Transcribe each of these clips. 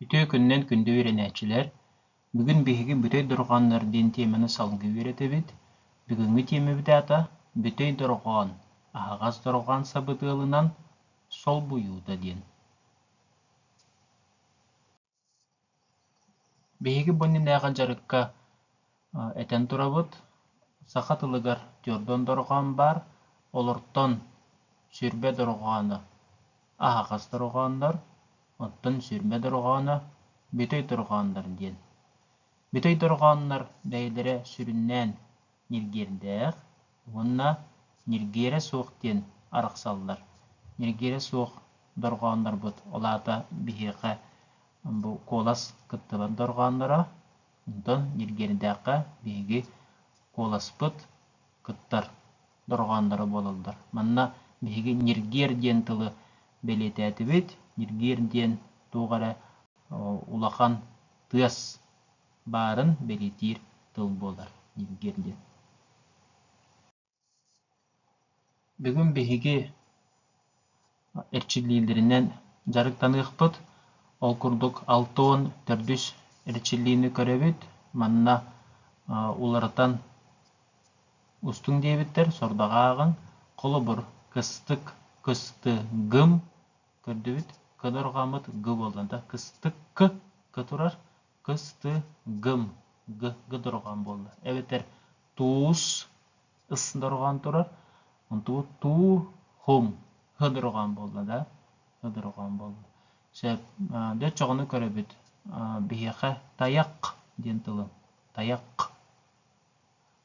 Үтүө күнүнэн күндү үөрэнээччилэр! Бүгүн биһиги Бүтэй дорҕооннор диэн тиэмэни салгыы үөрэтэбит. Бүгүҥҥү тиэмэбит аата Бүтэй дорҕоон, аһаҕас дорҕоон сабыдыалынан солбуйуута диэн. Биһиги бу иннинээҕи дьарыкка этэн турабыт, саха тылыгар твердон дорҕоон баар, олортон сүрбэ дорҕооно аһаҕас дорҕооннор, оттон сүрмэ дорҕооно бүтэй дорҕооннор диэн. Бүтэй дорҕооннор бэйэлэрэ сүрүннээн ньиргиэрдээх уонна ньиргиэрэ суох диэн арахсаллар. Ньиргиэрэ суох дорҕооннорбут, ол аата биһиэхэ бу куолас кыттыбат дорҕоонноро, онтон ньиргиэрдээххэ биһиги куоласпыт кыттар дорҕоонноро буолаллар. Манна биһиги ньиргиэр диэн тылы бэлиэтээтибит. Ньиргиэр диэн туох эрэ улахан тыас баарын бэлиэтиир тыл буолар дииргэ дии бүгүн биһиги эрчиллиилэринэн дьарыктаныахпыт ол курдук алта уон төрт үс эрчиллиини көрөбүт манна уларытан устуҥ диэбиттэр сордаҕа ааҕыҥ холобур кыстык кыстыгым көрдүбүт кыдырҕаммыт г буолла да кыстык к турар кыс ты гым г г дорҕоон буолла эбэтэр туус ыс дорҕоон турар онтубут туу хум һ дорҕоон буолла да һ дорҕоон буолла сөп дьэ оччоҕуна көрөбүт биһиэхэ тайах диэн тылын тайах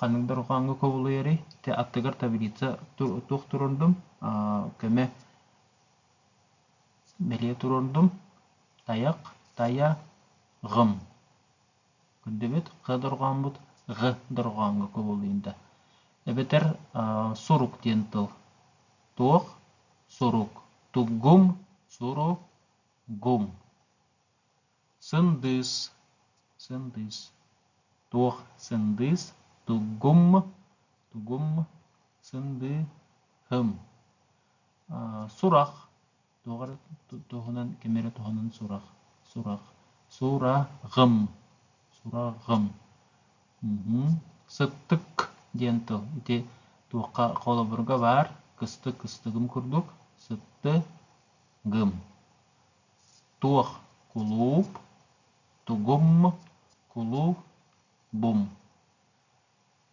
ханнык да рукааҥҥа кубулуйарый ити аттыгар таблица туох туруордум көмө бэлиэ туруордум тайах тайа гым көрдөбүт х дорҕооммут г дорҕооҥҥо кубулуйда эбэтэр сурук диэн тыл туох сурук туггуҥ суругуҥ Сындыыс, сындыыс, туох сындыыс туггум, тугум сындыыһым. Сурах, туох эрэ туһунан, ким эрэ туһунан сурах, сурах, сураҕым, сураҕым. Сыттык диэн тыл ити туохха холобурга баар кыстык кыстыгым курдук сыттыгым. туох кулууп тугум кулууп бум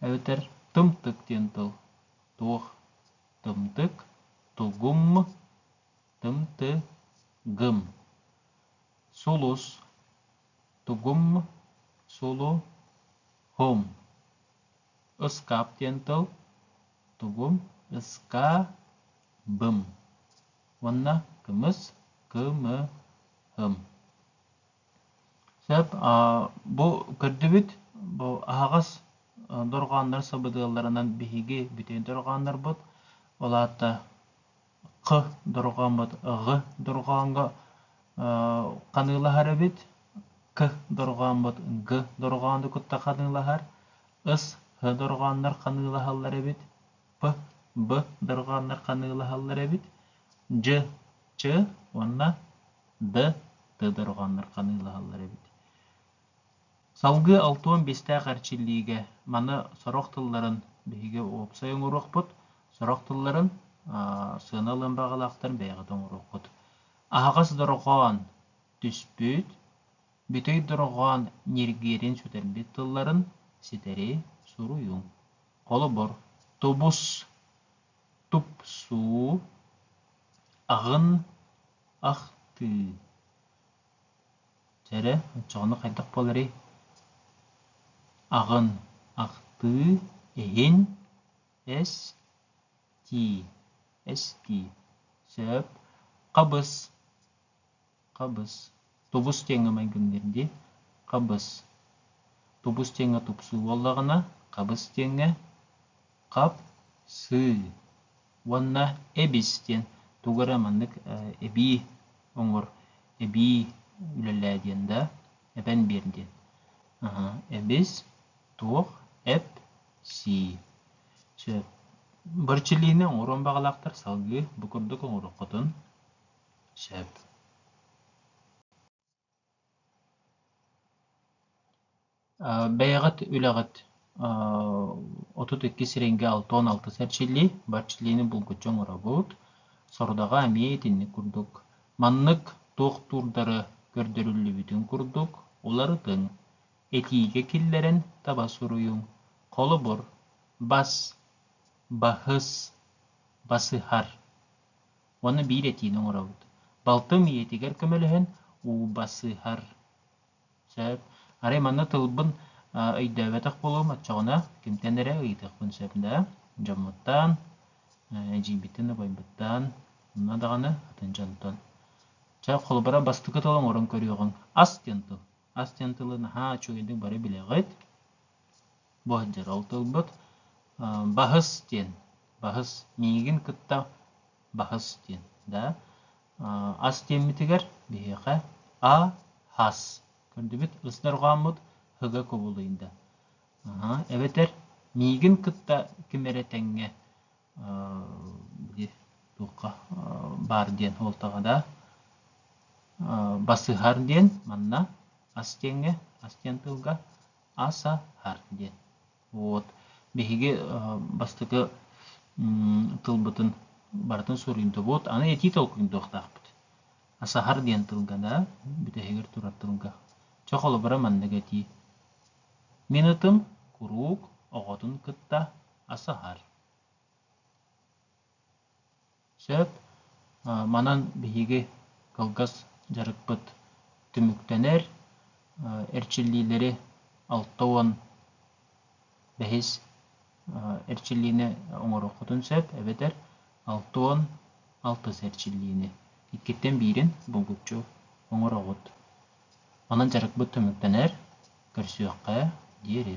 эбэтэр тымтык диэн тыл туох тымтык тугум тымтыгым сулус тугум сулуһум ыскаап диэн тыл тугум ыскаабым уонна кымыс, кымыһым. Сөп, бу көрдүбүт, бу аһаҕас дорҕооннор сабыдыалларынан биһиги бүтүн дорҕооннорбут, ол аата қ дорҕооммут г дорҕооҥго ханыылаһар эбит, к дорҕооммут г дорҕоону кытта ханыылаһар, ыс һ дорҕооннор ханыылаһаллар эбит, П-Б дорҕооннор ханыылаһаллар эбит. Дж-Ч уонна Д-Т дорҕооннор ханыылаһаллар эбит. Салгыы алтуон биэстээх эрчиллиигэ маны сорох тылларын биһиги уопсай оҥоруохпут, сорох тылларын аа, сыана ылыан баҕалаахтарын бэйэҕит оҥоруоххут. Аһаҕас дорҕоон түспүт, бүтэй дорҕоон ньиргиэрин сүтэрбит тылларын ситэри суруйуҥ. Холобур, тубус-тупсуу, аҕын ахтыы. Дьэрэ, оччоҕуна хайдах буоларый? Аҕын ахтыы, иһин эс-тии, эс-тии, сөп, хабыс. Хабыс, тубус диэҥҥэ майгынныыр дии. Хабыс. Тубус диэҥҥэ тупсуу буоллаҕына, хабыс диэҥҥэ хап-сыы уонна эбис диэн тугу эрэ маннык эбии оҥор, эбии үлэлээ диэн да, эбэн биэр диэн. Эбис, туох, эп-сии. Бырчилиини оҥоруон баҕалаахтар салгыы бу курдук оҥоруоххутун сөп бэйэҕит үлэҕит отут икки сирэйгэ алта уон алта сэрчиллии бэрчиллиини булгуччу оҥоробут сорудаҕа эмиэ итинник курдук маннык туохтуурдары көрдөрүллүбүтүн курдук уларытыҥ этиигэ киллэрэн таба суруйуҥ холобур бас баһыс басыһар уонна биир этиини оҥоробут. Балтым ийэтигэр көмөлөһөн ууба сыһар. Сөп. Арай манна тылбын өйдөөбөтөх буолуом, оччоҕуна кимтэн эрэ ыйытыахпын сөп да? Дьоммуттан, эдьиийбиттэн, убайбыттан, онно даҕаны атын дьонтон. Чэ, холобура, бастакы тыл оҥорон көрүөҕүҥ. Ас диэн тыл. ас диэн тылы наһаа үчүгэйдик бары билэҕит бу сылдьар ол тылбыт баһыс диэн баһыс миигин кытта баһыс диэн да ас диэммитигэр биһиэхэ а хас көрдүбүт ыстырҕааммыт ыга кубулуйда эбэтэр миигин кытта ким эрэ тэҥҥэ туохха баар диэн уолтаҕа да басыһар диэн манна ас диэҥҥэ ас диэн тылга асаһар диэн вот биһиги бастакы тылбытын барытын суруйдубут аны этии толкуйдуохтаахпыт асаһар диэн тылга да бүтэһигэр турар тылга чох холобура маннык этии мин ытым куруук оҕотун кытта асаһар. Сөп. Манан биһиги кылгас дьарыкпыт түмүктэнэр. Эрчиллиилэри алта уон бэһис эрчиллиини оҥоруоххутун сөп эбэтэр алта уон алтыс эрчиллиини иккиттэн биирин булгуччу оҥороҕут. Онон дьарыкпыт түмүктэнэр. көрсүөххэ диэри